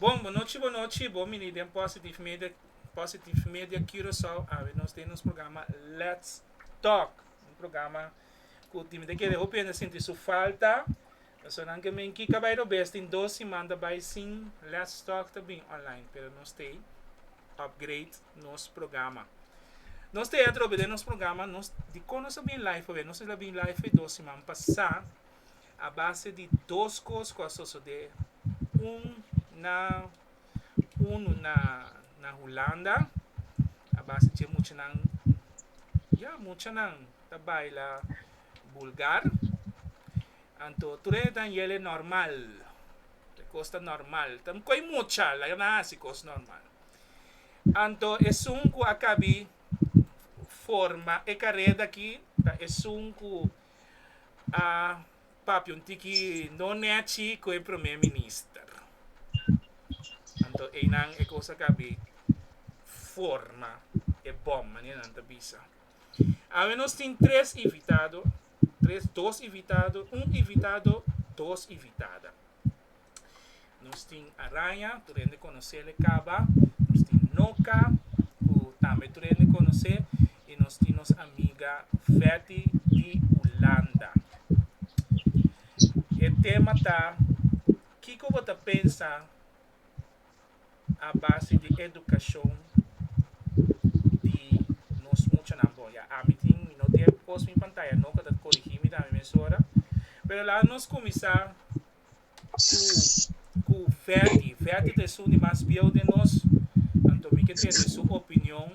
Bon bo no chibo no chibo mini den positive media positive media curacao awe nos tin nos programa let's talk un programa cu tin ta kere hopi hende sinti su falta so nan ke men kika bay robes tin dos simana bay sin let's talk ta bin online pero nos stay upgrade nos programa nos te atrobe den nos programa nos di con nos ta bin live awe nos a bin live dos siman pasa. A base di dos cos cu a sosode, un na unu na na Hulanda, a base dje muchanan, ya muchanan ta baila bulgar, anto tur e Daniele normal, e cos ta normal, ta cu e mucha la e na haci cos normal, anto esun cu a cabi forma e careda aki ta esun cu. a papia un tiki no nechi cu e Prome Minister. Anto eynan e cosa ca bi forma e bom, manier nan ta bisa. Awe nos tin tres invitado, tres dos invitado, un invitado, dos invitada. Nos tin araña, tur hende konosel e kaba. Nos tin noka, ku tambe tur hende konosé. I nos tin nos amiga Feti di Ulanda. E tema ta, Kiko bo ta pensa a base di edukashon di nos muchanan? Bon, ya ami tin, mi no tin e kos mi pantaya, no, ku a ta korigí mi tambe mesora. Pero laga nos kuminsá cu cu Ferdy. Ferdy ta esun di mas bieu den nos, anto mi ke tene su opinion.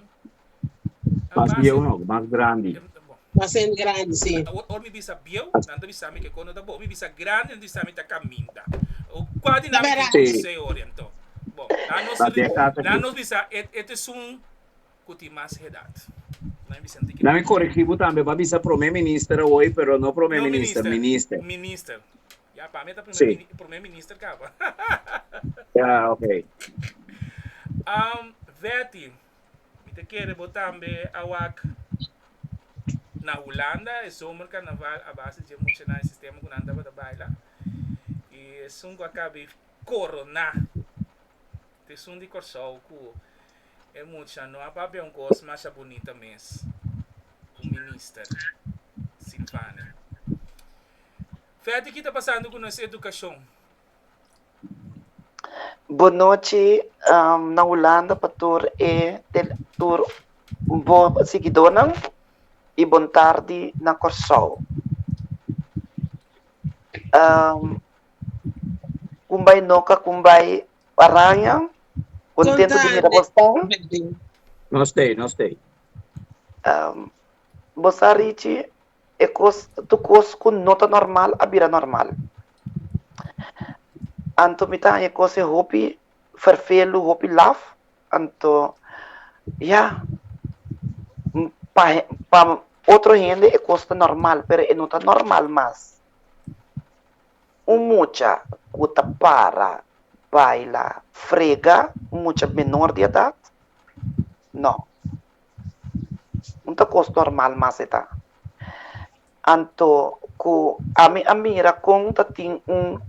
Nan Mas ta bieu hasi, no, mas grandi. em, em, bon, Mas hende grandi, si. a- awor, awor mi bisa bieu, nan ta bisa mi ke kono ta bo. Mi bisa grandi, nan ta bisa mi ta kaminta. O kua di Na nan mi tin bera. Si. konseo, anto, bon, nan nos, Ta ri- den kasa nan ki. nos bisa e, e ta esun cu tin mas hedad. Na mi corigi bo tambe pa bisa prome minister awoy pero no prome minister minister. No minister minister ya pa mi ta prome minister caba. Ya ok. Vetti mi ta kere bo tambe awak na Hulanda e zomer carnaval a base dje mucha nan e sistema cu nan tabata baila y esun cu a caba e corona t'esun di Corsou cu E mucha no a papia un kos masha bunita mes ku Minister Silvania. Feti ki ta pasando ku nos edukashon? Bonochi na Hulanda pa tur e tur bo sigidónan i bon tardi na Kòrsou. Kumbai no ka kumbai Araña, contento di mira bo's tan. Nos t'ey, nos t'ey. Bo sa Richie, e cos, tur cos cu no ta normal a bira normal. Anto mi ta haña cose hopi ferfelu, hopi laf, anto ya, pa, pa otro hende e cos ta normal, pero e no ta normal mas. Un mucha ku ta para baila frega un mucha menor di edat? No. No ta kos normal mas e ta. Anto ku ami a mira kon ta tin un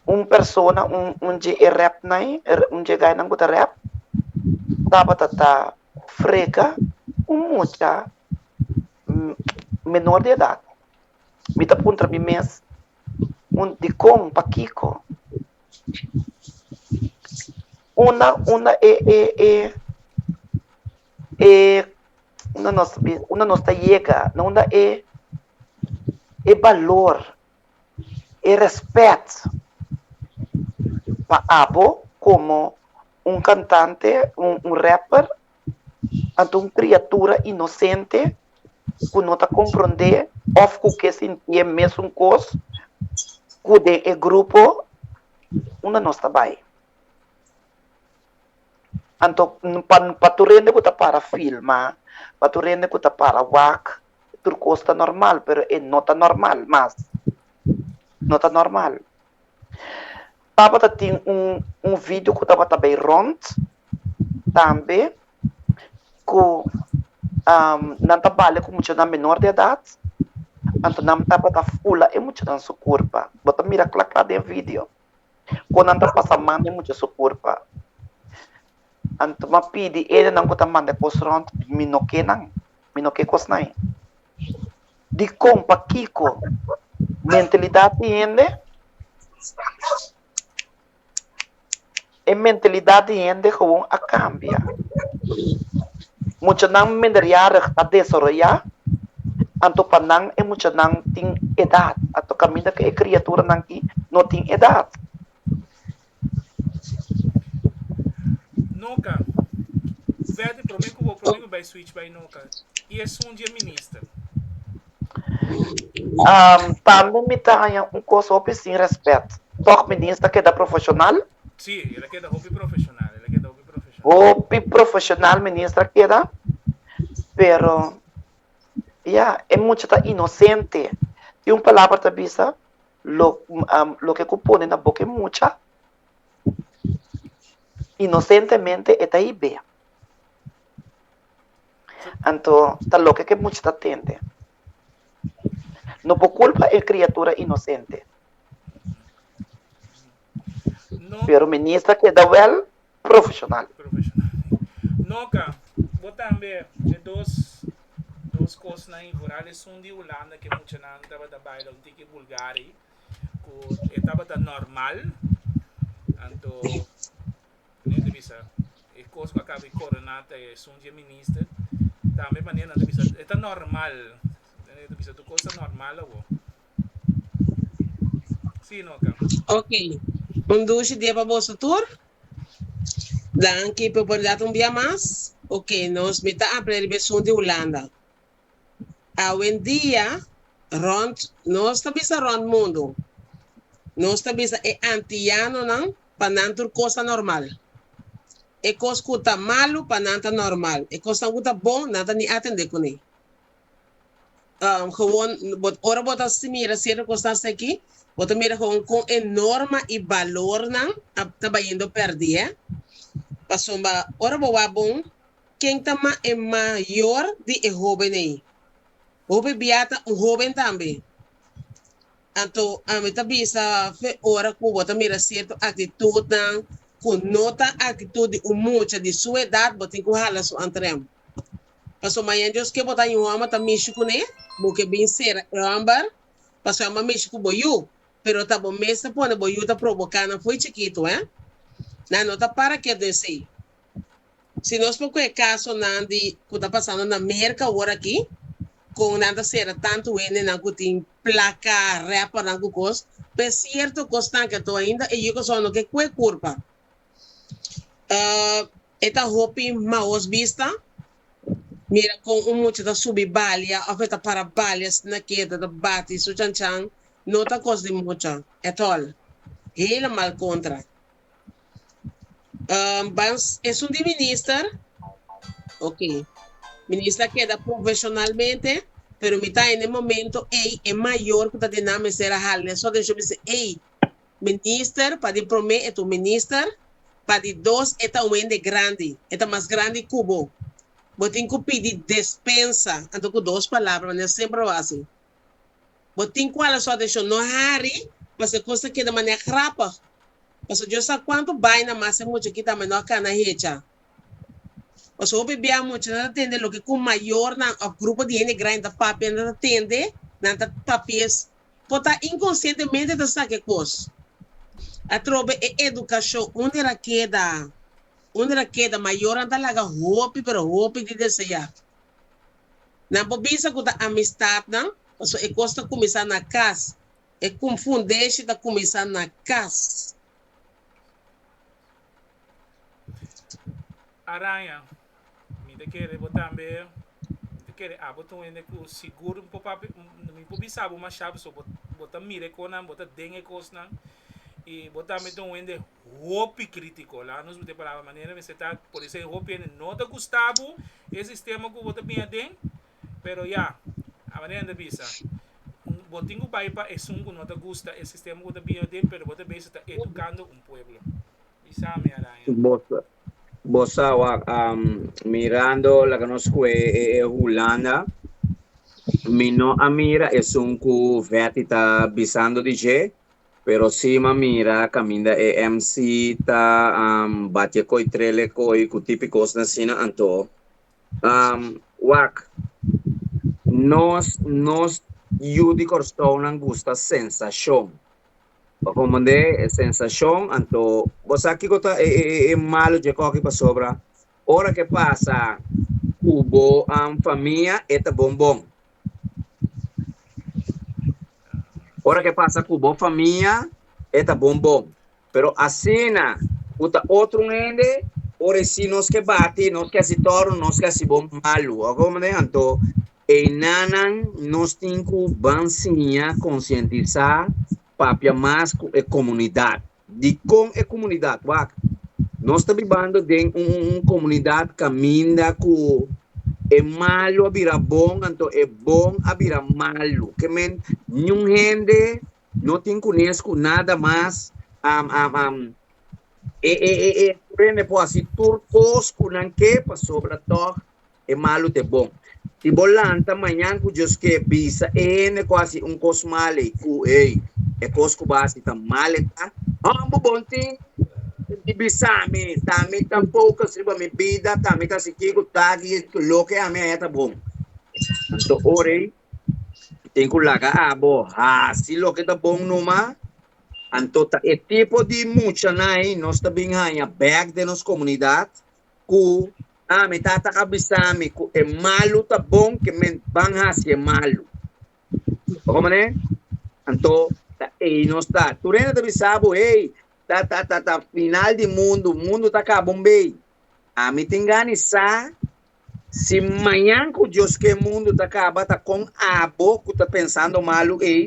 un persona, un dje e rèpnan, un dje gainan ku ta rèp, tabata ta frega un mucha menor di edat, mi ta puntra mi mes un dikon, pakiko una una e e e e una nos una nos ta yega na una e e balor, e rèspèt pa abo komo un kantante, un rapper Anto un kriatura inosente ku no ta komprondé òf ku ke sintié e mesun kos ku den e grupo unda nos ta bai. Anto pa pa tur hende ku ta para filma, pa tur hende ku ta para wak tur kos ta normal, pero e no ta normal mas, no ta normal. Tabata tin un un video ku tabata bay rond tambe ku nan ta bale ku muchanan menor de edad anto nan tabata fula e muchanan su kurpa bo ta mira kla kla den video kon nan ta pasa man den mucha su kurpa anto mi a pidi ene nan ku ta manda e kos rond mi no ke nan mi no ke kosnan. di kon pa kiko mentalidat di hende e mentalidat di hende gewoon a kambia. Muchanan minderjarig a desaroyá, anto pa nan e muchanan tin edat, anto kaminda ku e kriaturanan i no tin edat. Noka, Verdi prome ku bo prome ku bai switch bai Noka i esun di e minister. Tambe mi ta haña un kos hopi sin rèspèt. Tòg minins ta keda profeshonal? Si, el a keda hopi profeshonal, el a keda hopi profeshonal. Hopi profeshonal minins ta keda, pero ya, e mucha ta inosente. Tin un palabra ta bisa, Lo loke ku pone na boka e mucha, inosentemente e ta hib'é. Anto ta loke ku e mucha ta tende. No por kulpa e kriatura inosente. Pero Minister keda wèl profesional. Noka, bo tambe e dos dos kosnan i Vooral esun di Hulanda ke muchanan tabata baila un tiki bulgari ku e tabata normal anto mane nan ta bisa e kos ku a kaba di koroná ta esun di e minister tambe mane nan ta bisa e ta normal mane nan ta bisa tur kos ta normal awo. Sí, no ta. Ok, un dushi dia pa boso tur. Danki pa oportunidad un bia mas. Ok, nos mi ta apre riba esun di Hulanda. Awendia rond nos ta bisa rond mundu. Nos ta bisa e antiyanonan pa nan tur kos ta normal. E kos ku ta malu pa nan ta normal. E kosnan ku ta bon nan ta ni atende kune. Um, gewoon, bo, ora bo ta mira cierto cosnan aquí, bo ta mira gewoon con e norma y balornan a, ta bayendo perdi, eh. Pasomba, ora bo wa bon, ken ta ma e mayor di e hoben ey? Hopi bia ta un hoben tambe. Anto, a mi ta bisa fe ora cu bo ta mira cierto actitudnan cu no ta actitud di un mucha di su edad, bo tin cu hala su antrem. Paso mañan Dios ke bo ta yu hòmber ta mishi ku ne, bo ke bin sera e hòmber, paso e hòmber mishi ku bo yu, pero ta bo mester pone bo yu ta proboká nan fo'i chikitu, hé? Nan no ta para ketu esei. Si nos por ku e kasonan di ku ta pasando na Merka aworakí, kon nan ta sera tantu hendenan ku tin plaka, rèpernan ku kos, p'e sierto kosnan ke tou ainda e yukoson no ke kue kurpa. Ah, E ta hopi maos bista. Mira con un mucha ta subi balia of e ta para balia sna keda ta bati su chanchan no ta cos di mucha at all. Helemal contra. Um ban esun di minister? Ok. Minister a keda profesionalmente pero mi ta hay n'e momento ey e mayor cu ta di nan mester a hala den su atencion mi si ey Minister, pa di prome e ta un minister, pa di dos e ta un hende grandi, e ta mas grandi ku bo. Bo tin ku pidi despensa, anto ku dos palabra, manera semper lo hasi. Bo tin ku hala su atenshon. No hari, pasobra e kos ta keda manera grapig, pasobra Dios sa kuantu baina mas e muchachita menor kana hecha. Paso hopi bia muchanan ta tende loke cu mayornan of grupo di hende grandi ta papia, nan ta tende, nan ta papia es, por ta inconscientemente ta sa ke cos. Atrobe e educacion under a keda, under a keda, mayornan ta laga hopi, pero hopi di desea. Nan por bisa cu ta amistadnan, paso e cos ta cuminsa na cas, e confundeshi ta cuminsa na cas. Araña, mi ta kere bo tambe, mi ta kere abo tun hende ku sigur mi por papia, mi por bisa bo mashá pasobra bo, bo ta mira e kosnan, bo ta den e kosnan, i bo tambe ta un hende hopi krítiko. Laga nos mete palabra manera mester ta, por eso e hopi hende no ta gusta bo e sistema ku bo ta bin aden. Pero ya, Amelia Ender bisa, Bo tin ku bai pa esun ku no ta gusta e sistema ku bo ta bini aden, pero bo ta bei si ta edukando un pueblo. Bisa mi Araya. Bo sa, bo sa wak, mirando loke nos skue e Hulanda, mi no a mira esun ku Vetti ta bisando di dje, pero si mi a mira kaminda e MC ta bati e koitrel ekoi ku tipi kosnan asina anto, Um, wak, nos, nos yu di Kòrsounan gusta sensashon. Pa komandé e sensashon, anto, bo sa kiko ta e, e, e, e malu dje kòki pasobra ora ke pasa ku bo, um, famia e ta bon bon. Ora ke pasa ku bo famia e ta bon bon, pero asina ku ta otro hende ora e si nos ke bati, nos ke hasi tòru, nos ke hasi bo malu. Oga bo manera? Anto e nannan nos tin ku ban siña, konsientisá, papia mas ku e komunidat. Dikon e komunidat wak? Nos ta bibando den un komunidat kaminda ku e malu a bira bon anto e bon a bira malu. Ke men niun hende no tin kunes ku nada mas e e e e por hende por hasi tur kos ku nan ke pasobra tòg e malu t'e bon. Si bo lanta mañan ku Dios ke, bisa e hende ku hasi un kos mal ei ku, Ei, e kos ku bo hasi ta mal e ta. Hopi bo tin di bisa, Mi ta mi tampoco sirba mi bida, ta mi ta hasi kiko ta aki i loke ami haña ta bon. Anto ora ei bo tin ku laga abo hasi loke ta bon numa. Anto ta e tipo di muchanan ei nos ta bin haña bek den nos komunidat. ku a mi tata a bisa mi ku e malu ta bon ke men ban hasi e malu. Ora bo manera, anto ta ei nos ta. Tur hende ta bisa bo, hey, ta ta ta ta final di mundu, mundu ta kaba un bei. A mi ta ingani sa si mañan ku Dios ke e mundu ta kaba ta kon abo ku ta pensando malu ei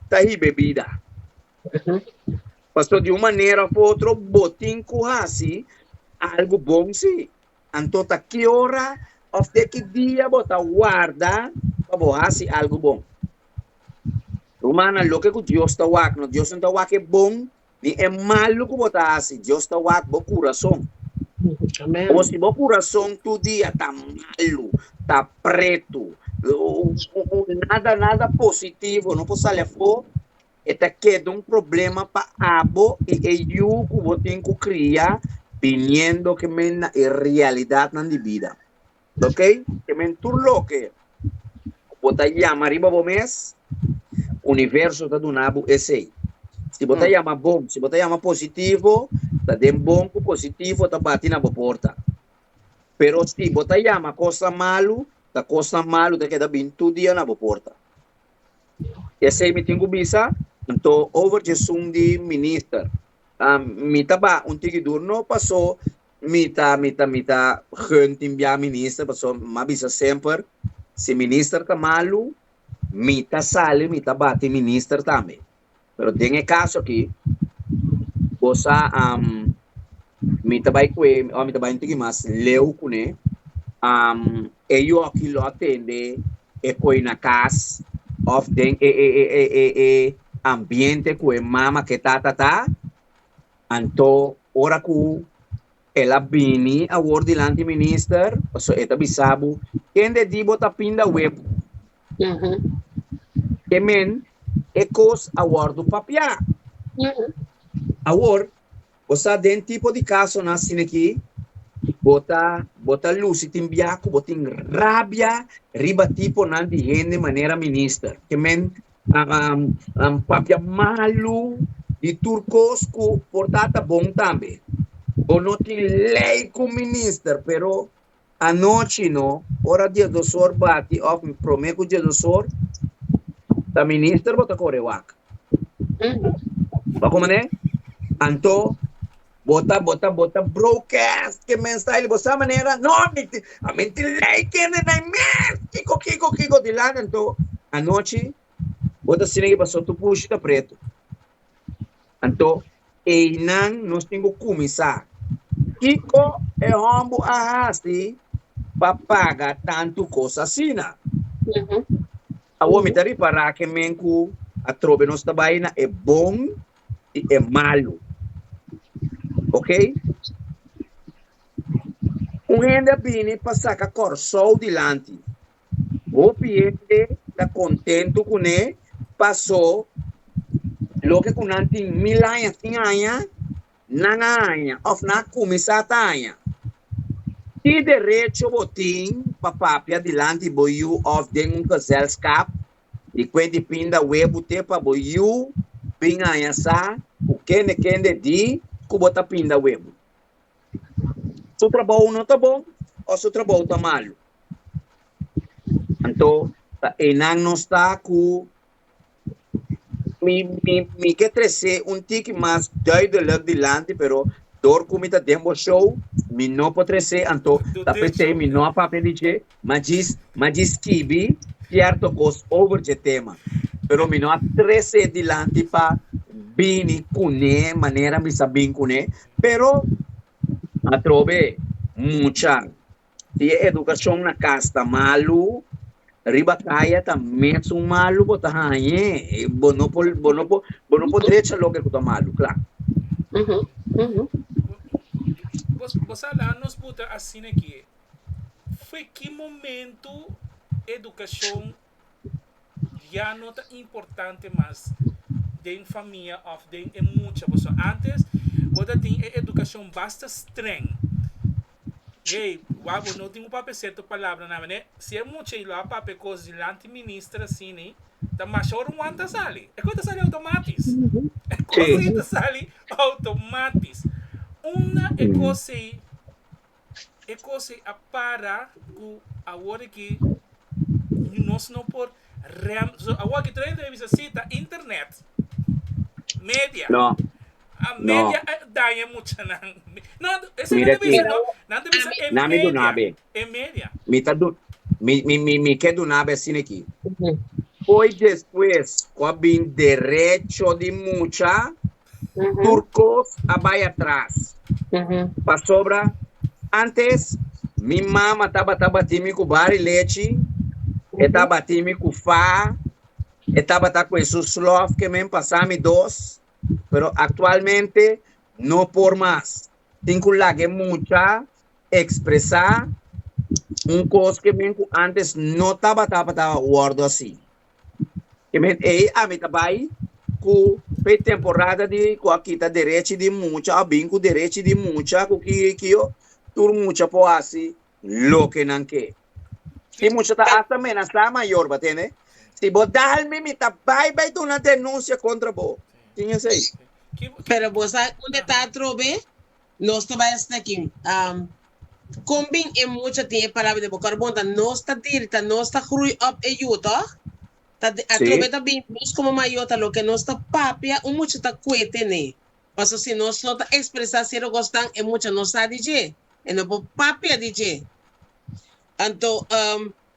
ta hiba e bida. Pasobra di un manera of otro botin ku hasi algu bon si. Anto ta ki ora of te ki dia bo ta warda pa bo hasi algu bon? Rumannan, loke ku Dios ta wak no, Dios no ta wak e bon ni e malu ku bo ta hasi, Dios ta wak bo kurason. Bo si bo kurason tur dia ta malu, ta pretu, nada nada positivo no por sali afo, e ta keda un problema pa abo i e yu ku bo tin ku kria biniendo ke men na e realidatnan di bida. Loke ke men tur loke ku bo ta yama riba bo mes, universo ta duna bo esei. Si bo ta yama bon, si bo ta yama positivo, ta den bon ku positivo ta bati na bo porta. Pero si bo ta yama kosnan malu, ta kosnan malu ta keda bin tur dia na bo porta. Esei mi tin ku bisa. Anto over djesun di minister. Mi ta baha un tikidur no paso mi ta mi ta mi ta gun tin bia minister paso m'a bisa semper si minister ta malu mi ta sali mi ta baha tin minister tambe. Pero den e kaso aki, bo sa, am, mi ta bai ku e, ora mi ta bai un tiki mas leu ku ne, am, e yu aki lo a tende e koi na kas òf den e, e, e, e, e, e ambiente ku e mama ku e tata ta, anto ora ku El a bini awor dilanti minister, paso e ta bisa bo, kende di bo ta pinda web? Mm -hmm. E men, e kos a wordo papia. Mm -hmm. Awor, bo sa den tipo di kaso na asina aki, bo ta, bo ta lusi tin biaku, bo tin rabia riba tipo nan di hende manera minister. Ke men, papia malu di tur kos ku por ta ta bon tambe. Bo no tin lei ku minister, pero anochi no, ora diosdosor bati òf promé ku diosdosor, ta minister bo ta kore wak. Bo a komo manera? Anto Bota bota bota broadcast ke mensai li bo sa manera no mi tin a mi tin lei kende nai mes kiko kiko kiko di lak anto anochi bo ta sina ke paso tu bushi ta pretu anto einan nos tin ku kuminsa kiko e hombu a hasi pa paga tantu kos asina. Awor mi ta ripará ke men ku atrobe nos ta bai na e bon i e malu. Okey. Un hende a bini pa saka Kòrsou dilanti. Hopi hende ta kontentu kuné pasó loke ku nan tin mil aña, sin aña, Nan a haña òf nan a kuminsá ta haña? Ki derecho bo tin pa papia dilanti bo yu òf den un gezelskap di kue di pinda wee bo te pa bo yu bin haña sa ku kende kende di ku bo ta pinda wee bo? Su trabou no ta bon òf su trabou ta malu? Anto ta einan nos ta ku Mi, mi, mi ke trese un tiki mas duidelijk dilanti, pero dor ku mi ta den bo show, mi no por trese, anto Do ta den p'esei show, mi no a papia di dje, ma djis, ma djis skibi sierto kos over dje tema. Pero mi no a trese dilanti pa bini kuné manera mi sa bin kuné, pero atrobe mucha Si e edukashon na kas ta malu, riba kaya ta mesun malu. Bo ta hañ'é. Bo no por, bo no por, bo no por drecha loke ku ta malu, kla. Bo, bo sa laha nos puta asina kié. Fu e ki momentu edukashon. ya no ta importante mas den famia of den e mucha paso antes bo ta tin e educacion basta streng hey wak bo no tin cu papia cierto palabra nan manera si e mucha lo a papia cos dilanti minister asina ta masha ora un wan ta sali e cos ta sali automatis e cos ey ta sali automatis una e cos ey. e cos ei a para cu awor aki nos no por rem, so awor aki tur entrevista si ta internet, media, No, a no. media a daña muchanan, no esei nan Mira ta aquí. bisa no, nan ta bisa e Nami media, dunabe. e media. Mi ta du mi mi mi mi ke dunabe asina aki. Hoy despues cu a bin derecho di mucha. tur cos a bay atras. Pasobra antes mi mama tabata bati mi cu bar y lechi, e ta bati mi cu fa, e tabata cu e su slof ke men pasa mi dos, pero actualmente no por mas. Tin cu laga e mucha expresa un cos ke men cu antes no tabata tabata wordo asi. Kimin ei ami ta bai ku pretemporada di ku a kita derechi di mucha, a bin ku derechi di mucha ku ki yo i ki yo, tur mucha por hasi loke nan ke. Si mucha ta hasta amenasá mayor, bo a tende, si bo dal mi, mi ta bai bai duna denunsia kontra bo. Tin esei? Pero bo sa unda ta atrobe? Nos ta bai hasta aki. Con bin e mucha tin e palabra den boca Arbonta? Nos ta dirta, nos ta groei op e yu, toch? Ta atrobe ta bin nos como mayo ta loke nos ta papia un mucha ta cuete ne. Paso si nos no ta expresa cierto cosnan e mucha no sa di dje, e no por papia di dje. Anto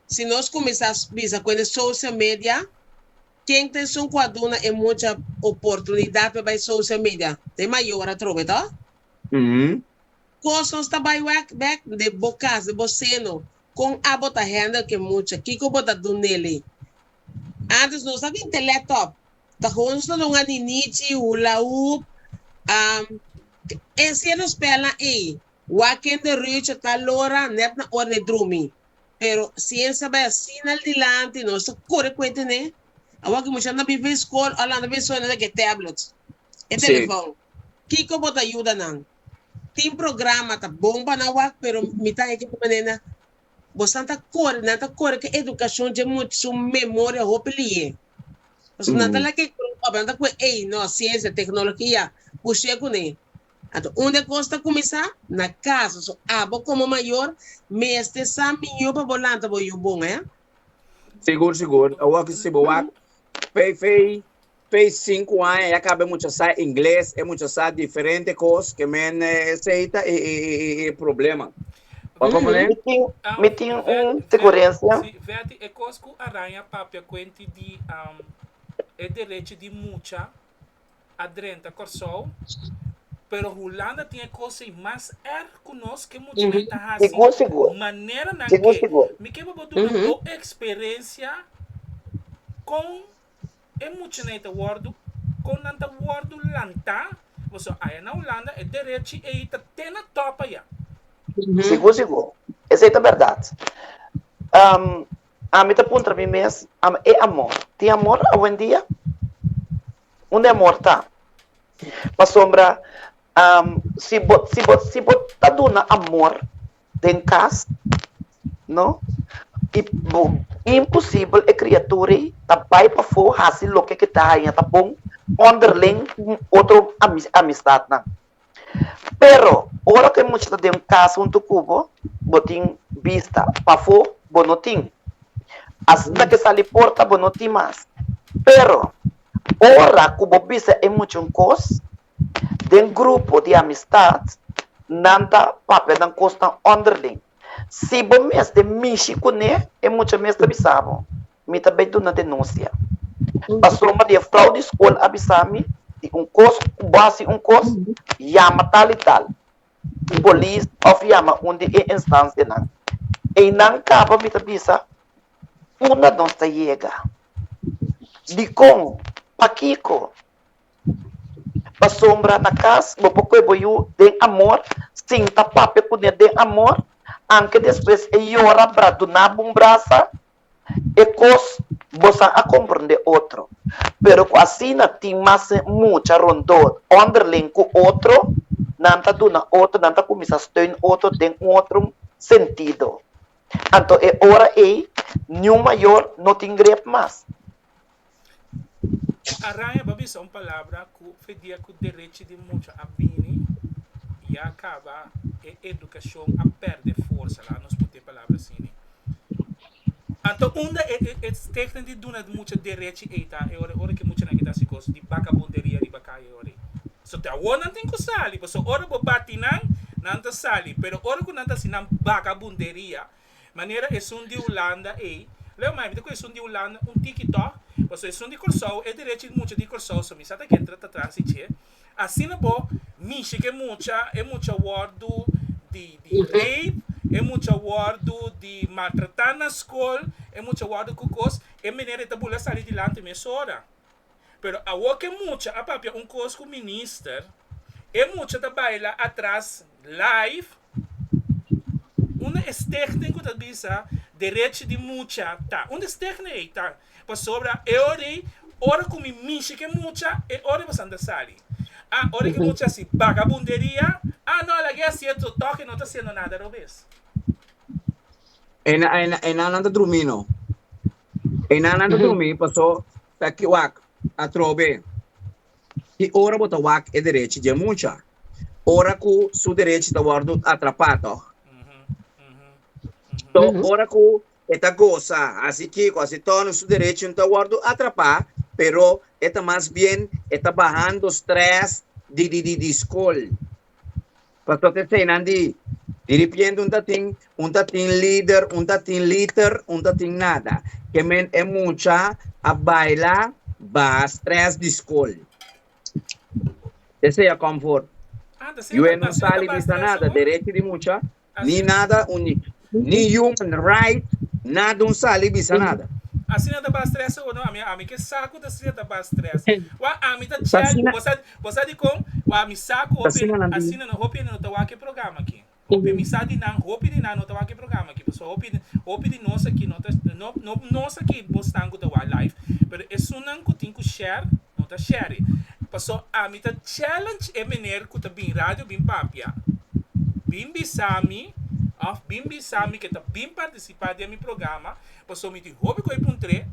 Si nos kuminsá bisa ku e social media, ken ta esun ku a duna e mucha oportunidat pa e bai social media? Ta e mayor atrobe to. Kos nos ta bai wak bek den bo kas, den bo seno. Kon abo ta handle ku e mucha? Kiko bo ta dun n'elei? Antes nos a bin telè tòp, ta hou nos ta dunga ninichi, hula hoop, e encierro spèlnan ei Waken de Reuter ta alora net na ora d'e drumi, pero siensa bai asina al dilanti nos ta kore kue ten'é. Awor ki muchanan ta bin bai skol, Orlando ta bin suena den ku e tablet, e telefon. Kiko bo ta yuda nan? Tin programa ta bon pa nan wak, pero mitan e kiko manera bo san ta kore, nan ta kore ku edukashon dje much su memoria hopi li'é. Pasobra nan ta laga e grupo, nan ta kue ei no siensia, teknologia, bush'é kuné. Anto unda cos ta cuminsa? Na casa. So abo como mayor mester sa miño pa bo lanta bo yu bon eh. Sigur sigur awor si bo wak pay fey pay cinco aña ya caba e mucha sa ingles e mucha sa diferente cos que men esey ta e e e problema pa como ne. Mi tin mi tin un sugerencia. Si Veti e cos cu a raña papia cuenti di e derecho di mucha a drenta Kòrsou, pero Hulanda tin e kos ei mas èrg ku nos, ke mucha mén ta hasi maneranan ke. Mi ke pa bo duna bo eksperensia kon e muchanan ei ta wòrdu, kon nan ta wòrdu lantá, pasobra aya na Hulanda e derechi ei ta te na tòp aya. Sigur sigur, esei ta bèrdat. Ami ta puntra mi mes, Am e amor? Tin amor awendia? Unda e amor ta? Pasobra si bo si bo si bo ta duna amor den kas, no? i bo imposibel e kriatura ei ta bai pafó hasi loke ke ta haña ta bon ònderling otro ami amistadnan. Pero, ora ku e mucha ta den un kas huntu ku bo, bo tin bista. Pafó bo no tin. Asinta ke sali porta bo no tin mas. Pero, ora ku bo bisa e mucha un kos, den grupo di amistat nan ta papia nan kosnan ònderling. Si bo mester mishi kuné, e mucha mester bisa bo. Mi ta bai duna denuncia. Pasobra di e fraude di school a bisa mi di un cos cu bo haci un cos, yama tal y tal polis of yama un di e instancianan. Eynan caba mi ta bisa funda nos ta yega, dicon, pakico. Pasobra na cas bo por coge bo yu den amor, sin ta papia cune den amor, anque despues e yora bra dunabo un brasa. e kos bosa a komprendé otro, pero ku asina tin mas mucha rondó ònderling ku otro, nan ta duna otro, nan ta kuminsá steun otro den un otro sentido. Anto e ora ei niun mayor no tin grep mas. Araña bo a bisa un palabra ku fedia ku derechi di mucha a bini ya kaba e edukashon a pèrdè forsa la nos puti e palabra asini anto unda e stigna di duna mucha derechi ei ta e ora ora ke muchanan ke ta hasi kos di bakabunderia riba kaya e ora ei so te awor nan tin ku sali pasobra ora bo bati nan nan ta sali pero ora ku nan ta hasi nan bakabunderia. Manera esun di Hulanda ei. Leo mai, mi ta kue esun di Hulanda un tiki tò. Paso esun di Kòrsou, e derechi di mucha di Kòrsou, so mi sa ta kenta ta transi dje. Asina bo mishi ke mucha, e mucha wòrdu di di rape, e mucha wòrdu di maltratá na skol, e mucha wòrdu ku kos, e manera e ta bula sali dilanti mesora. Pero awor ke mucha a papia un kos ku minister, e mucha ta baila atras live unda e stichting ku ta bisa derechi di mucha ta. Unda e stichting ei ta? Pasobra e ora ei, ora ku mi mishi ke mucha, e ora ei bo sanda sali. A ora ke mucha hasi bagabunderia, a no, a lag'e hasi e to, tòk e no ta hasiendo nada robes. Ei nan, ei nan, ei nan nan ta drumí no. Ei nan nan ta drumí, pasó. Ta ki wak atrobe. I ora bo ta wak e derechi di e mucha, ora ku su derechi ta wòrdu atrapá, tòg? Tò, ora ku e ta gosa hasi kiko, hasi tòno, su derechi no ta wòrdu atrapá, pero e ta mas bien e ta bahando strès di skol. Pastor ta eseinan di diripiente un ta tin un ta tin lider un ta tin liter un ta tin nada ke men e mucha a baila ba stress di skol desea comfort yo e no sali bisa nada derechi di mucha ni nada unico. ni human right nada un sal y bisa nada. Asina ta bastrese o no ami ami ke sa ku ta asina ta bastrese wa ami ta chel bo sa bo sa dikon wa mi sa ku hopi asina no hopi no ta wak e programa aki hopi mi sa di nan hopi di nan no ta wak e programa aki pasobra hopi hopi di nos aki no ta no nos aki bo stan ku ta wak live pero esunnan ku tin ku share No ta Sherry. Paso ami ta challenge e meneer cu ta bin radio bin papia. Bin bisami of bin bisami ke ta bin participa den mi programa paso mi tin hopi cu a puntre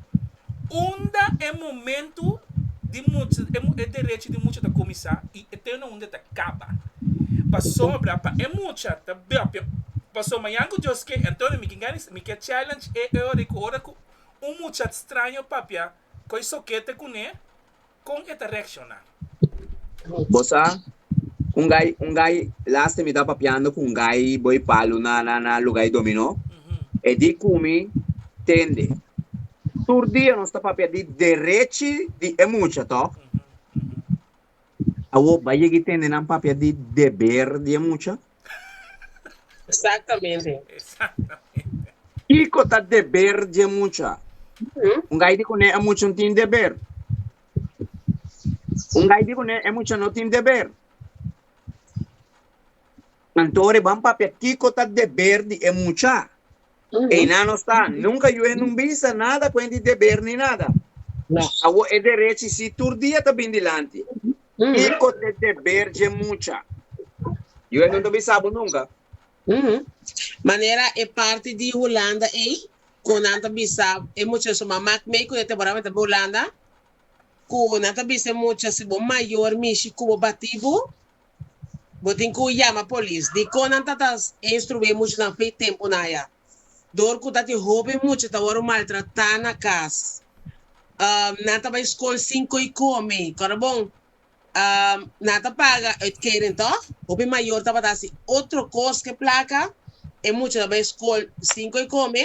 unda e momento di mucha e derecho di mucha ta cominsa y e teno unda ta caba. Pasobra pa e mucha ta papia paso mañan cu Dios ke entoces mi ke gana mi ke challenge e ora cu ora cu un mucha straño papia cu e sokete cune, con e ta reacciona? Bo sa, un gay, un gay, lasta mi ta papiando cu un gay bo y palu na, na, na lugar y dominó. E di cu mi tende. Tur dia nos ta papia di derechi di e mucha, toch? Awor, bay yega y tende nan papia di deber di e mucha? Exactamente. Exactamente. Kico ta deber dje mucha? Un gai di cune e mucha no tin deber? Un gai di cune e mucha no tin deber? Anto ora ban papia kico ta deber di e mucha. Einan no sta. Nunca Yuhe nun bisa nada cuent di deber ni nada. Awor e derechi si tur dia ta bin dilanti. Kiko t'e deber dje mucha? Yo e no ta bisa bo nunka. Manera e parti di Hulanda ei ku nan ta bisa e mucha su mama k'mei ku e temporanan ta bay Hulanda, ku nan ta bisa e mucha si bo mayor mishi ku bo batí bo, bo tin ku yama polis. Dikon nan ta ta instrué e muchanan fin tempu nan ya? dor ku ta tin hopi mucha ta wòrdu maltratá na kas. Nan ta bai skol sin ko'i komi. Kòrabon, nan ta paga uitkering tò? Hopi mayor tabata hasi otro kos ku e plaka. E mucha ta bai skol sin ko'i komi.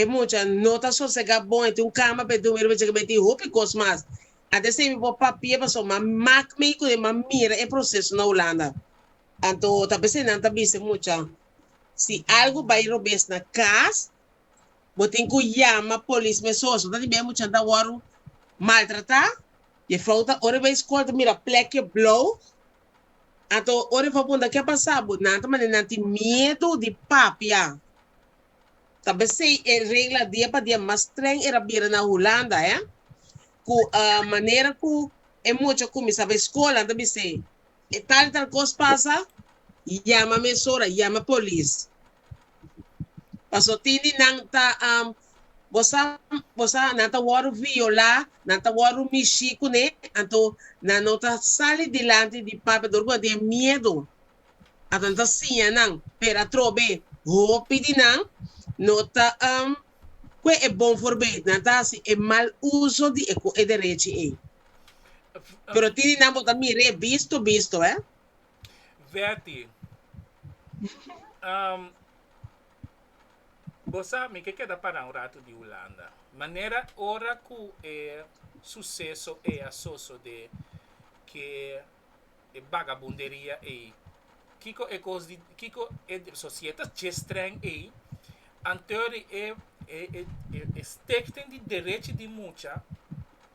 E mucha no ta sosegá bon, e tin un kama pa e dumi riba dje kaminda, e tin hopi kos mas. Anto esei mi por papia pasobra m'a mak mi ku m'a mira e proseso na Hulanda. Anto ta p'esei nan ta bisa e mucha. Si algu bai robes na cas, bo tin cu yama polis mesun. Eso ta di bia e muchanan ta wor maltrata. E vrouw ta ora e bai scol ta mira plekje blauw. Anto ora e vrouw punta ke a pasa bo, nan ta manda nan tin miedu di papia. Ta besey e regla dia pa dia mas streng era bira na Hulanda, eh. Cu manera cu e mucha cuminsa bai scol nan ta bisey E tal y tal cos pasa, yama mesora, yama polis. Paso tin di nan ta, um, bo sa, bo sa, nan ta worde viola, nan ta worde mishi cune, anto nan no ta sali dilanti di papia dor cu nan tin miedo. Anto nan ta siña nan, pero atrobe hopi di nan no ta, um, cu e bon for bay, nan ta haci e mal uso di e cu e derechi ey. Pero tiri nan bo ta mir'é bisto bisto, hè? Betty, Um, bo sa mi ke keda pará un ratu di Hulanda. Manera ora ku e suseso ei a sosodé, ke e bagabunderia ei, kiko e kos di, kiko e sosietas dje strèng ei, anteur di e e e e e stekten di derechi di mucha,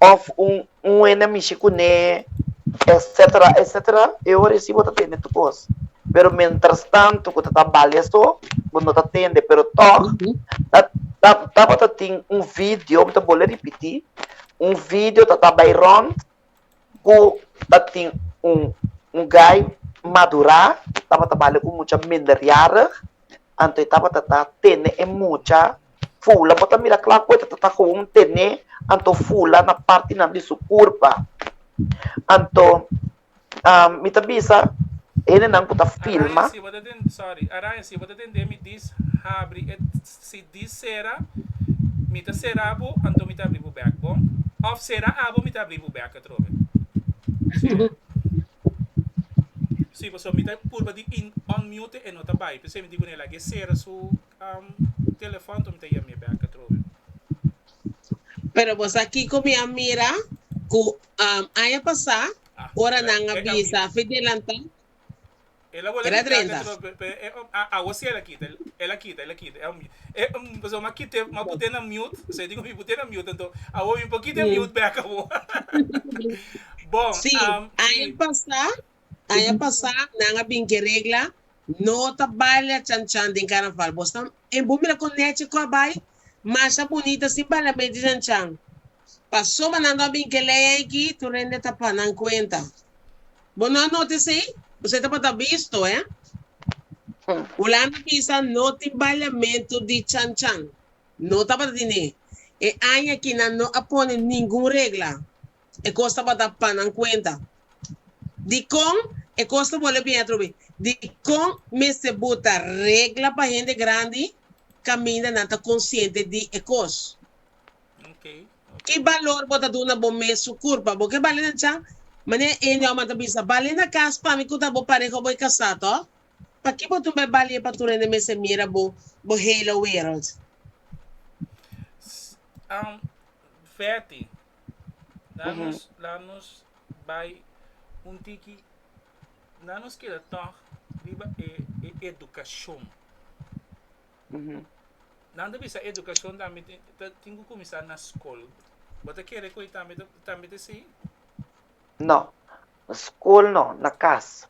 of un un hende a mishi kuné etsetera etsetera e hora si bo ta tende tur kos pero mientras tanto ku ta ta bali aso bo no ta tende pero tog ta ta tabata tin un video bo ta bole ripiti un video ta ta bai rond. ku a tin un un gai madurá tabata bale ku mucha minderjarig anto e tabata ta tene e mucha fula bo ta mira kla ku e tabata koon tene anto fula na partinan di su kurpa anto mi ta bisa hendenan ku ta filma. Si di sera, Mi ta sera bo, anto mi ta abri bo bek, bon? Of Sera abo, mi ta abri bo bek atrobe. Si paso mi ta purba di unmute e no ta bai, p'esei mi di kun'e laga e sera su telefòn to mi ta yam'e bek atrobe. Pero bo sa kiko mi a mira ku aña pasá ora nan a bisa Fidelanta. Sí, aña pasá, aña pasá nan a bin cu e regla no ta baila chan chan den carnaval. Bo mira cu Neche cu a bay? Masha Bunita sin baila mey di chan chan. Pasobra nan no bin ke lei aki, tur hende ta pa nan kuenta. Bo no a nota esei? Kuse tabata bisto, eh? Hulanda bisa no tin baliamentu di chanchan. No tabata tene. E aña aki nan no a pone ningun regla. E kos tabata pa nan kuenta. Dikon e kos ta bolbe bini atrobe? Dikon mester buta regla pa hende grandi kaminda nan ta konsiente di e kos? Ki balor bo ta duna bo mes su kurpa? Bo ke bali na cha? Manera e Enio Aman ta bisa, Bali na kas pa mi ku ta bo pareha ku bo e kasá, tò? Pakiko bo tin bai balié pa tur hende mester mira bo, bo hele wèreld? Nan ta bisa educacion tambe tin cu cuminsa na scol. Bo ta kere cu e tambe ta así? No. Na scol no, na cas.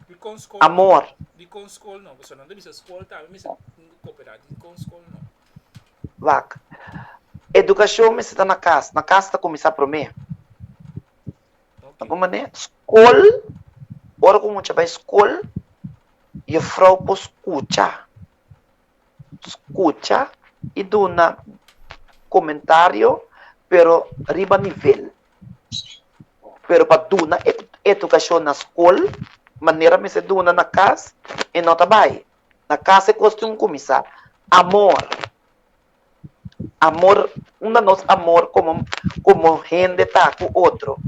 Dicon scol no? Amor. Dicon scol no? Pasobra nan ta bisa scol tambe mester cooperá. Dicon scol no? Wak. Educacion mester ta na cas. Na cas ta cuminsa prome. Apa mané skol, ora ku mucha bai skol, jefrou por skucha, skucha i duna komentario, pero riba nivel. Pero pa duna e edukashon na skol, manera mester duna na kas, e no ta bai. Na kas e kos tin ku kuminsá. Amor. amor, unda nos amor komo komo hende ta ku otro,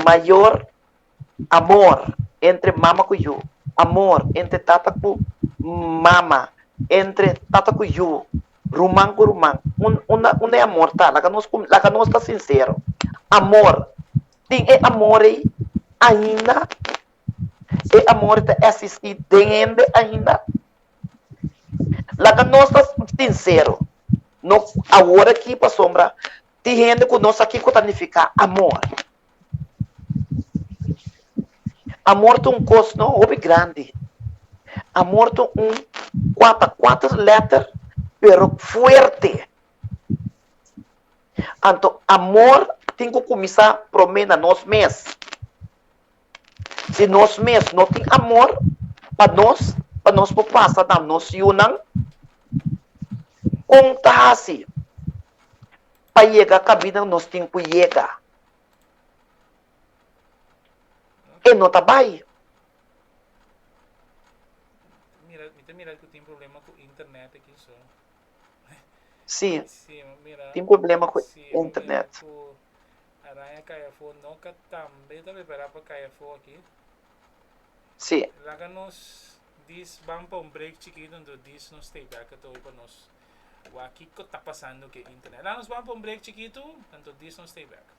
mayor amor entre mama ku yu, amor entre tata ku mama, entre tata ku yu, ruman ku ruman, un unda unda e amor ta, laga nos ku laga nos ta sinsero, amor tin e amor ei ainda E amor ta existi den hende ainda? Laga nos ta sincero, no awor aki pasobra tin hende cu no sa kico ta nifica amor. Amor ta un cos no hopi grandi. Amor ta un cuata cuater letter pero fuerte. Anto amor tin cu cuminsa prome na nos mes. Si nos mes no tin amor pa nos, pa nos por pasa na nos yunan, kon ta hasi pa yega kabina nos tin ku yega? E no ta bai. Si, tin problema ku internet. Araña cai afo no ca tambe ta prepará pa cai afo aki? Sí. Laga nos diz ban pa un break chikito anto diz nos stay back at ol pa nos wak kico ta pasando cu e internet. Laga nos ban pa un break chikito anto diz nos stay back.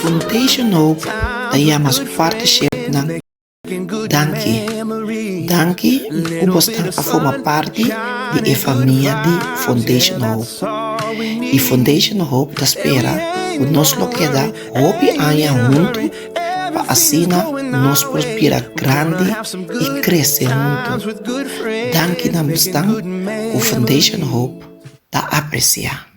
Foundation Hope ta yama su parti shefnan danki. Danki ku bo stan a forma parti di e famia di Foundation Hope. I Foundation Hope ta spera ku nos lo keda hopi aña huntu. pa asina nos por bira grandi i krese huntu. Danki na mestan ku Foundation Hope ta apresiá.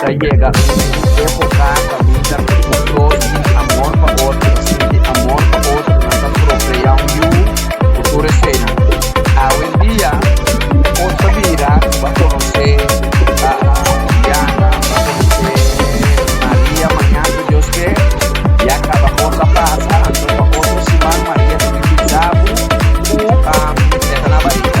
Ta yega un epoca pa mira cu cu flor di amor pa otro ta sinti amor pa otro, nan ta procrea un yu cu tur esena. Awendia nos ta bira cu bo a conoce Diana, bo a conoce Maria, maña si Dios ken, ya caba cos a pasa, anto pa otro siman Maria ta bini bisa bo cu um e ta na barriga.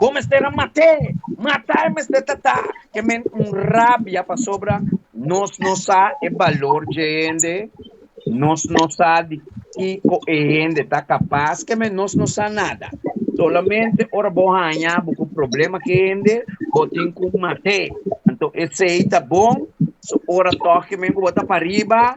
Bo mester a mat'é. Mata e mester ta ta ke men un rabia pasobra nos no sa e balor dje hende, nos no sa di kiko e hende ta kapas, ke men nos no sa nada. Solamente ora bo haña bo ku problema ku e hende, bo tin ku mat'é. Anto esei ta bon, so ora tòg ke men ku bo ta pariba,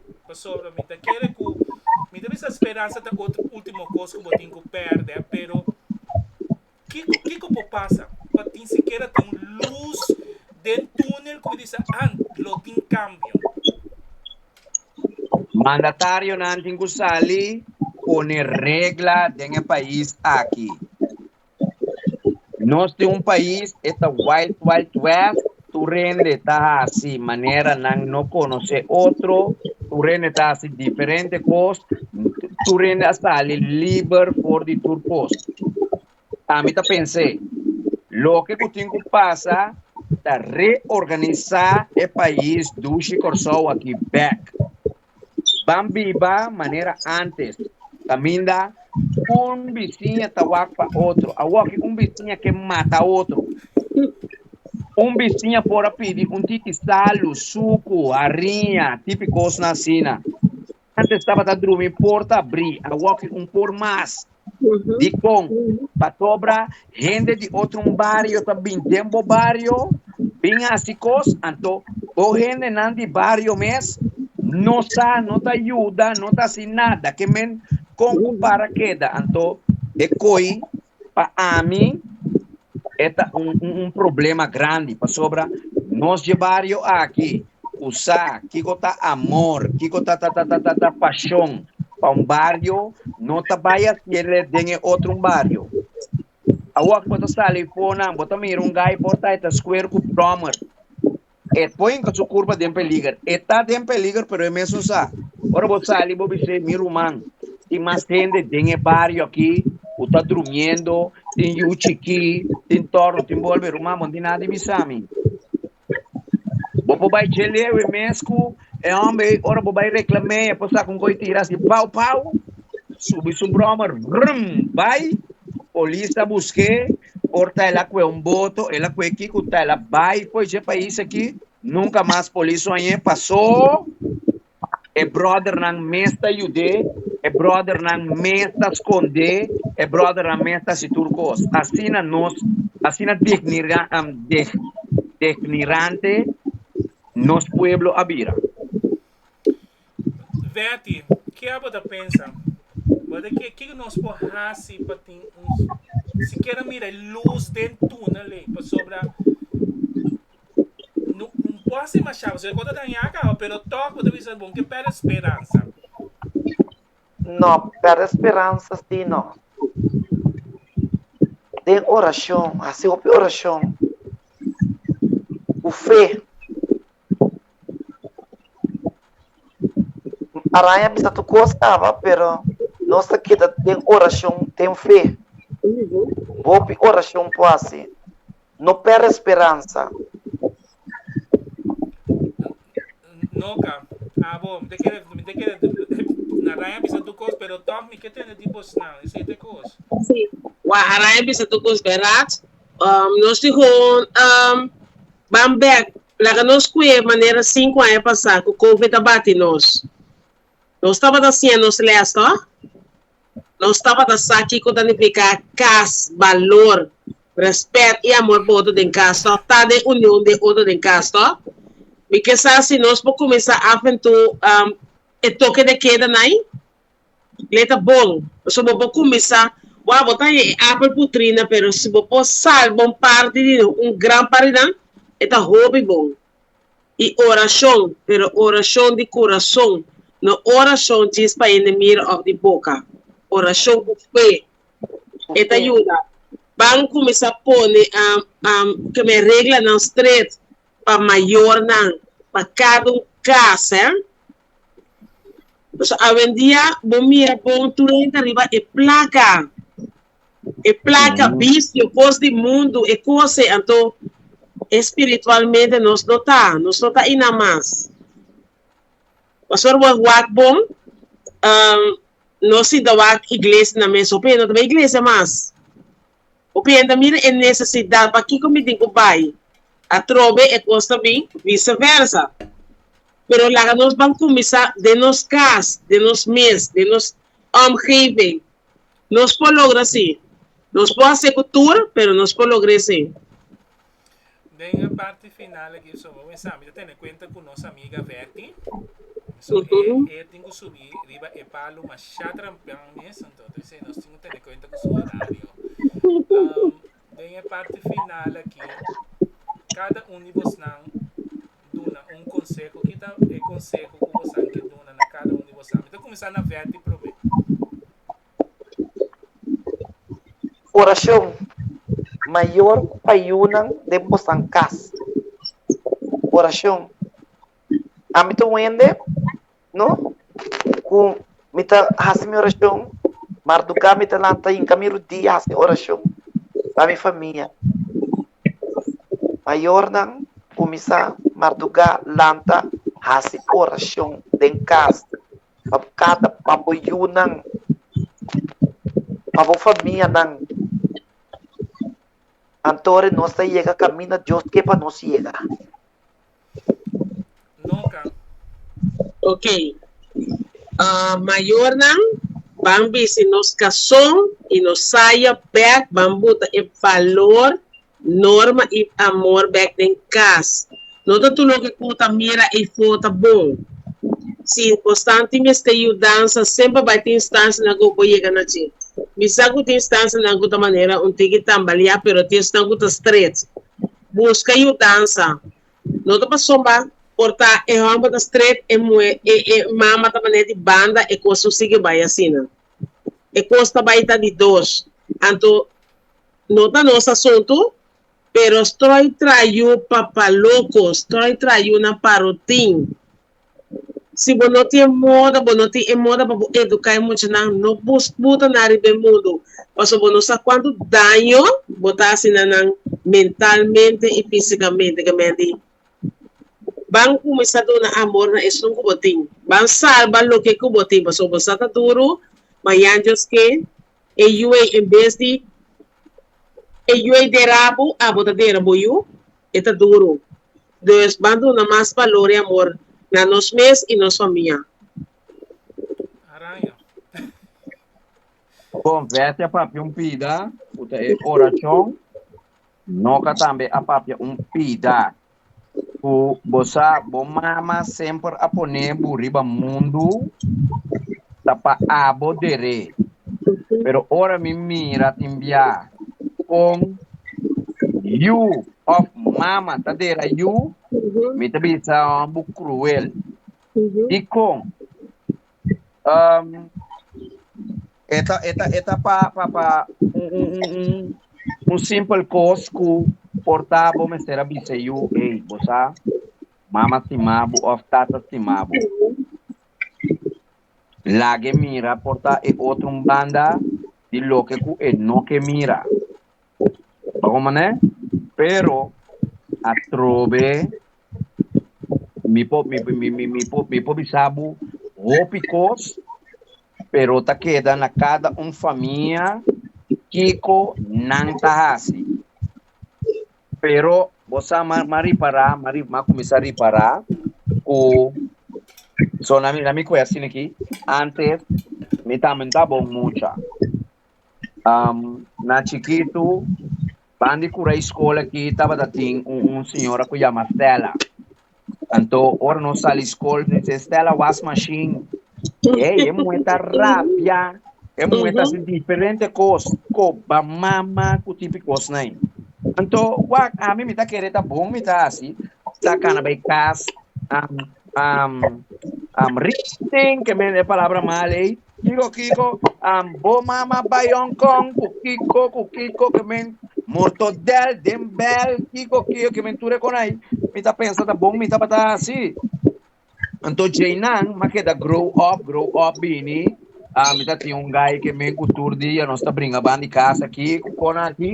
Pasobra mi ta kere ku mi ta bisa speransa ta otro último kos ku bo tin ku pèrdè, pero kiko kiko por pasa pa tin sikiera tin lus den túnel ku mi disa ant lo tin kambio? Mandatarionan tin ku sali pone regla den e pais aki. Nos tin un pais e ta wild wild west tur rende ta hasi manera nan no konosé otro tur rende ta hasi diferente kos tur rende a sali liber for di tur kos a mi ta pens'é loke ku tin ku pasa ta reorganisá e pais dushi Kòrsou aki bèk. Ban biba manera antes, kaminda un bisiña ta wak pa otro. Awoki un bisiña ke mata otro. Un bisiña por a pidi un titi salu, suku, hariña, tipi kosnan asina. Antes tabata drumi por ta abrí, awoki un por mas. Dikon? Pasobra hende di otro bario ta bin den bo bario bin hasi kos, anto bo hendenan di bario mes no sa, no ta yuda, no ta hasi nada. Ke men kon ku para keda? Anto e koi pa ami e ta un problema grandi, pasobra nos dje bario aki usá, kiko ta amor, kiko ta ta ta ta ta pashon pa un bario, no ta bai hasiele den e otro un bario. Awo aki bo ta sali Fonan, bo ta mira un gai por ta e ta skuer ku brommer. E poi enka su kurba den peliger. E ta den peliger pero e mesun sa. Ora bo sali bo bis'é, mi ruman, tin mas hende den e bario aki ku ta drumiendo, tin yu chikí, tin tòrno, tin bolbe. Ruman, bo no tin nada di bisa mi. Bo por bai djeleu e mes cu e homber ey, ora bo bai reclam'e e por saca un goy tira así pau pau, subi su brommer, vrrm, bai, polis ta busc'e, ora ta el a cue un boto, el a cue kico, ta el a bai fo'i dje pais aki, nunca mas polis oñ'e, pasó. E bròdernan mes ta yud'é, e bròdernan mes ta skond'é, e bròdernan mes ta hasi tur kos. Asina nos, asina degnirante nos pueblo a bira. Vèti, Ke bo ta pensa? Bo ta kere kiko nos por hasi pa tin un sikiera mira e lus den túnel ei? Pasobra. Un pos tin mashaba, su e kos ta dañá kaba, pero tòg bo ta bisa bon ke pèrdè speransa? Nò, pèrdè speransa si nò. Den orashon, hasi hopi orashon ku fe. Araña a bisa tur kos kaba, pero nos ta keda den orashon, ten fe. Hopi orashon por hasi. No pèrdè speransa. Noka, abo, mi ta kere, mi ta kere, na Raya bisa tur kos, pero tòg mi ke tende di bosnan esei ta e kos. Sí, wak a Raya bisa tur kos bèrat. Nos tin hon ban bèk, laga nos kue manera sinku aña pasá ku Covid a bati nos. Nos tabata siña nos lès to. Nos tabata sa kiko ta nifiká kas, balor, rèspèt i amor pa otro den kas to, ta den union den otro den kas to. Mi ke sa si nos por kuminsá af en to e toke de keda na ahí? Lei ta bon. Pasobra bo por kuminsá, wou bo ta haña e apel putrí nan, pero si bo por salba un parti di nan, un gran parti di nan, e ta hopi bon. i orashon, pero orashon di kurason, no orashon djis pa hende mira òf di boka, orashon ku fe. E ta yuda ban kuminsá pone kem'é reglanan stret pa mayornan, pa kada un kas. Por eso awendia bo mira bon tur hende ta riba e plaka. E placa vicio, cos di mundo, e cos'e, anto espiritualmente nos no ta, nos no ta ina mas. Pastor bo a wak bon, no sinta wak iglesia nan mes, hopi e no ta bay iglesia mas, hopi e ta mira e necesidad pakico mi tin cu bay, atrobe e cos ta bin, vice versa. Pero laga nos ban cuminsa den nos cas, den nos mes, den nos omgeving. Nos por logra si. Nos por hase cu tur, pero nos por logra esey. Den e parti final aki so bo mester ami ta tene cuenta cu nos amiga Verky. So e e tin cu subi riba e palu masha trampian mes, entonces nos tin cu tene cuenta cu su horario. Den e parti final aki, kada un di bosnan duna un konseho. Ki ta e konseho ku bosan ke duna na kada un di bosan? Mi ta kuminsá na Vetty promé. Orashon. Mayor ku payunan den bosan kas. Orashon. Ámbito wende no ku mi ta hasi mi orashon, marduká mi ta lanta hinka mi rudia hasi orashon pa mi famia. Mayornan kuminsá marduká lanta hasi orashon den kas pa bo kata, pa bo yunan, pa bo famianan. Anto ora nos ta yega kaminda Dios ke pa nos yega. Noka. Ok. Uh, mayornan, ban bisi nos kason i nos saya bèk, ban buta e balor, norma i amor bèk den kas. No ta tur loke ku ta mira ei fota bon. Si bo santi mester yudansa, semper bai tin instansianan ku bo yega na dje. Mi sa ku tin instansianan ku ta manera un tiki tambaleá, pero tin esnan ku ta stret. Busca yudansa. No ta paso ba por ta e homber ta strep e muhe e e mama ta mane di banda e cos no sigue bay asina. E cos ta bay ta di dos. Anto no ta nos asunto pero stroy trayu papa loco, stroy trayu nan pa rotin. Si bo no tin e moda, bo no tin e moda pa bo educa e muchanan, no bus buta nan riba e mundo, pasobra bo no sa cuanto daño bo ta haci na nan mentalmente y fisicamente. Gemente ban cuminsa duna amor na esun cu bo tin, ban salba loke cu bo tin, pasobra bo sa ta duro, ma ya Dios ke e yu ey en bes di e yu ey dera bo, abo ta dera bo yu, e ta duro. Nos ban duna mas balor i amor na nos mes i nos famia. Araña. Konfesia papia un pida ku ta e orashon. Noka tambe a papia un pida ku bo sa bo mama semper a pone bo riba mundu ta pa abo der'é. Pero ora mi mira tin biaha kon yu òf mama ta dera yu, mi ta bisa hòmber kruel. Dikon? Um, e ta, e ta, e ta pa, pa, pa un, un, un, un, un simpel kos ku por ta bo mester a bisa yu, ei, bo sa mama stima bo òf tata stima bo. Lag'e mira por ta e otro un banda di loke ku e no ke mira. Pa un manera, pero atrobe mi por mi mi mi mi por mi por bisa bo hopi kos, pero ta keda na kada un famia kiko nan ta hasi. Pero bo sa m'a m'a ripará, m'a ri m'a kuminsá ripará ku so na mi na mi kwèsti aki, ántes mi tambe no ta bon mucha. Um, na chikitu, ban di Curei School aki tabata tin un, un señora cu yama Stella. Anto, ora nos sali school, nos dice, Stella, was machine. Ey, e muhe ta rabia. E muhe ta haci diferente cos, coba, mama, cu tipi cosnan ey. Anto, wak, ami mi ta kere ta bon, mi ta haci, mi ta cana bay cas, um, um, um, richten, ke men e palabra mal ey. Kiko kiko bo mama bai Hong Kong ku kiko ku kiko ke men mortodèl den bèl kiko kiko ke men tur e konai mi ta pensa ta bon mi tabata hasi anto dje nan mi a keda grow up grow up bini mi ta tin un gai ke men ku tur dia nos ta bringa ban di kas aki ku kona aki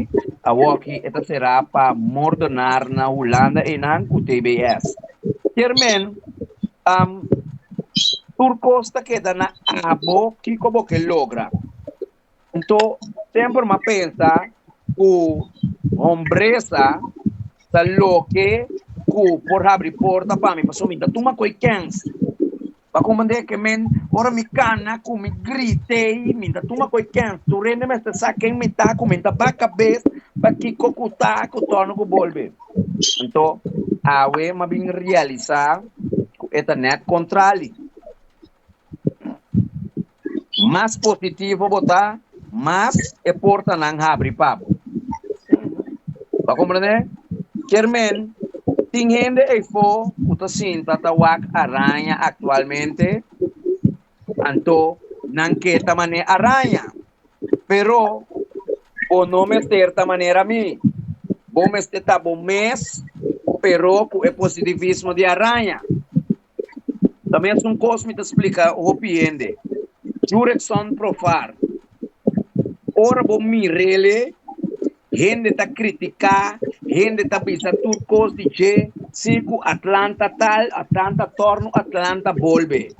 awoki e ta sera pa mordonar na Hulanda einan ku TBS kier men tur cos ta keda na abo kico bo ke logra. Nto, semper m'a pensa cu hombresa ta loke cu por habri porta pa mi, pasobra mi ta tuma cu e kens. Bo a comprende cu men ora mi cana, cu mi grit'ey, mi ta tuma cu e kens. Tur hende mester sa ken mi ta, cu mi ta ba cabes pa kico cu ta cu torna cu bolbe. Anto, awe m'a bin realisá ku e ta nèt kontrali. Mas positivo bo ta, mas e porta nan habri pa bo. Bo komprendé? Kermen, tin hende eifo ku ta sinta ta wak araña aktualmente, anto nan ke ta manera araña. Pero bo no mester ta manera mi. Bo mester ta bo mes, pero cu e positivismo di araña. Ta mesun cos mi ta splica hopi hende. Jurgenson Profar, Ora bo mir'ele, hende ta critica, hende ta bisa tur cos di dje, si cu Atlanta tal, Atlanta torno, Atlanta bolbe.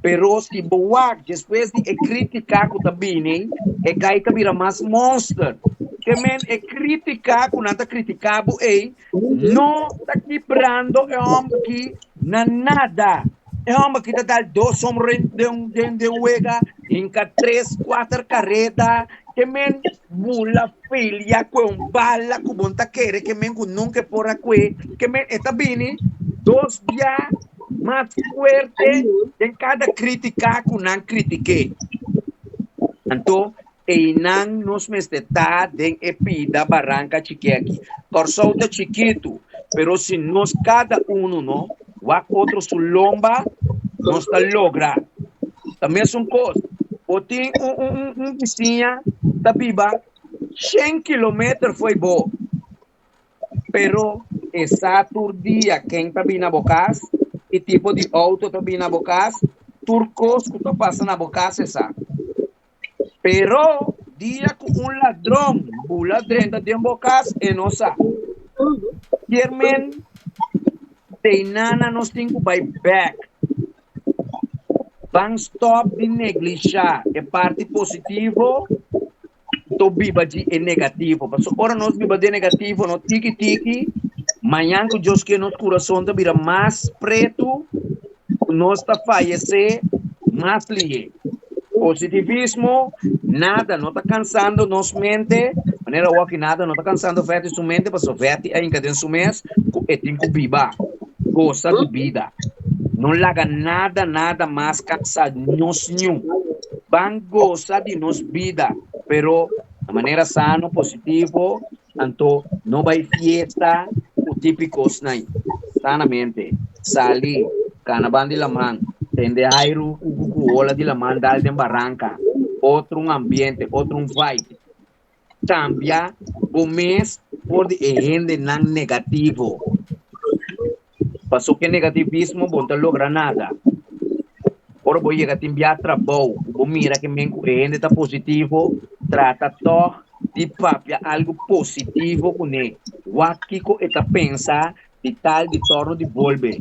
Pero si bo wak despues di e kritika ku ta bini, e kai ta bira mas monster. Te men e kritika ku nan ta kritika bo ei no ta kibrando e hòmber aki na nada. E hòmber aki ta dal dos home run den un wega, hinka tres, kuater kareta. Te men Bula filia kue un bala ku bon ta kere ke men ku nunke por a kue ke men e ta bini dos bia mas fuerte den kada kritika ku nan kritike. Anto einan nos mester ta den e pida baranka chikeki. Kòrsou ta chikitu pero si nos kada unu no wak otro su lomba nos ta logra ta mesun kos bo tin un un un un bisiña ta biba shen kilometer fo'i bo pero esa tur dia ken ta bini na bo kas ki tipo di outo ta bini na bo kas tur kos ku ta pasa na bo kas esa. Pero, dia cu un ladron bula drenta den bo cas, e no sa. Kiermen teina na nos tin cu bay bek. Ban stop di neglisha e parti positivo to biba dji e negativo. Paso ora nos biba den negativo no tiki tiki, mañan cu Dios kier nos curason ta bira mas pretu cu nos ta fayece mas lihe. Positivismo, Nada no ta cansando nos mente, manera wak-i nada no ta cansando Fetty su mente pasobra Fetty ainda den su mes cu e tin cu biba, gosa di bida. No laga nada nada mas cansa nos niun. Ban gosa di nos bida pero na manera sano, positivo Anto no bai fiesta cu tipi cosnan, sanamente, sali, cana ban di laman, tende hairu cu cucuola di laman dal den baranca, otro un ambiente, otro un vibe. Cambia bo mes for di e hendenan negativo. Paso ku e negativismo bo no ta logra nada. Ora bo yega tin bia trabou ku bo mira ku men ku e hende ta positivo, trata tòg di papia algu positivo ku ne. Wak kiko e ta pensa di tal di tòrnu di bolbe.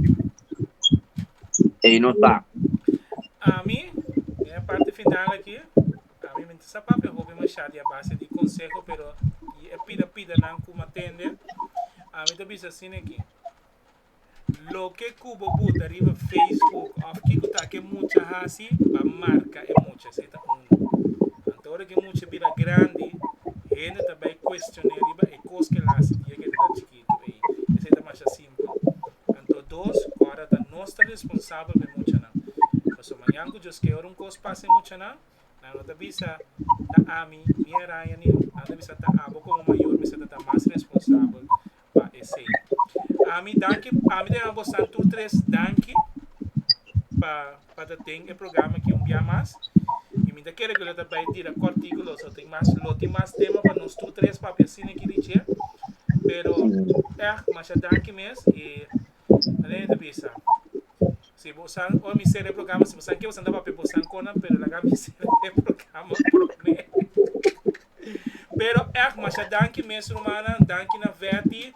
Ei no ta. Ami, den e parti final aki, ami mi ta sa papia hopi mashá di a base di konseho, pero di e pida pidanan ku m'atende, ami ta bisa asin aki. Loke cu bo buta riba Facebook of kico ta ke mucha haci ba marca e mucha si e ta uno. Anto ora ke mucha bira grandi hende ta bay cuestion'e riba e cos ke el haci dia ke e ta tan chikito ey. Esey ta masha simpel. Anto dos cu ora ta nos ta responsabel pa e muchanan. Paso mañan cu Dios key ora un cos pasa e muchanan nan no ta bisa ta ami ni Aranya ni nan ta bisa ta abo como mayor mester ta ta mas responsabel pa esei. Ami danki ami ta yama bosan tur tres danki pa pa ta den e programa aki un bia mas y mi ta kere cu lo ta bay dira cortico lo so tin mas lo tin mas tema pa nos tur tres papia asina aki di dje pero eahh masha danki mes y aley mi ta bisa si bo san ora mi sera e programa si bosan kier bosan ta papia bosan conan pero laga mi sera e programa probe. Pero ech masha danki mes rumannan, danki na Vetty,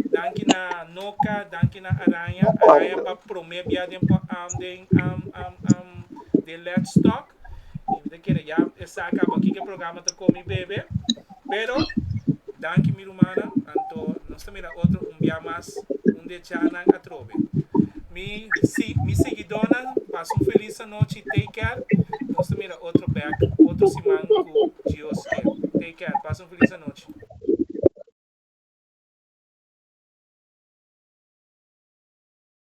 danki na Noka, danki na Aranja, Aranja pa prome bia den po am den am am am den Let's talk y mi ta kere ya esa a caba kiko programa ta komi bebe pero danki mi. Rumannan, anto nos ta mira otro un bia mas, un di e chanan atrobe. Mi si mi seguidónan pasa un felis anochi take care nos ta mira otro bek otro siman ku Dios kel take care pasa un felis anochi.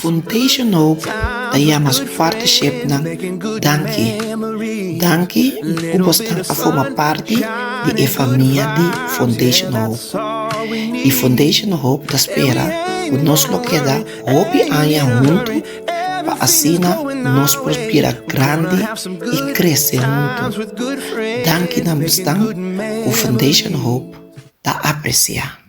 Foundation Hope ta yama su partishipnan danki. Danki ku bos tan a forma parti di e famia di Foundation Hope. I Foundation Hope ta spera ku nos lo keda hopi aña huntu pa asina nos por bira grandi i krese huntu. Danki na bosnan ku Foundation Hope ta apresiá.